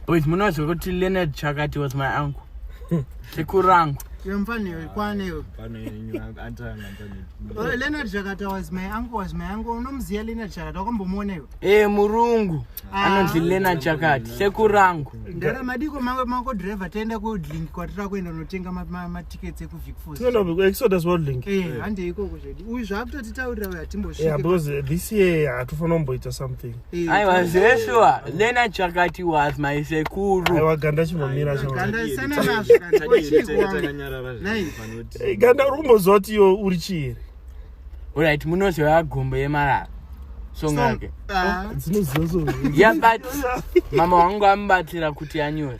boys munoziva kuti leonard chakati was my uncle sekuru rangu e murungu ah. anonzi lena chakati sekuru rangu ndaramadiko mako driver taenda kudlink kwatira kuenda unotenga matickets ekuvic fosexoduswadlink eh, eh. hande ikoko zvedi uyu zvaakutotitaurira uyo hatimbosvike because this year hatifanira kumboita something aiwa zveshuwa nena chakati was my sekuru aiwa ganda chinomira ganda uri kumboziva kuti iyo uri chii orit munoziva gombo yemarara song yake ah. oh, yeah but mama wangu amubatsira kuti anyore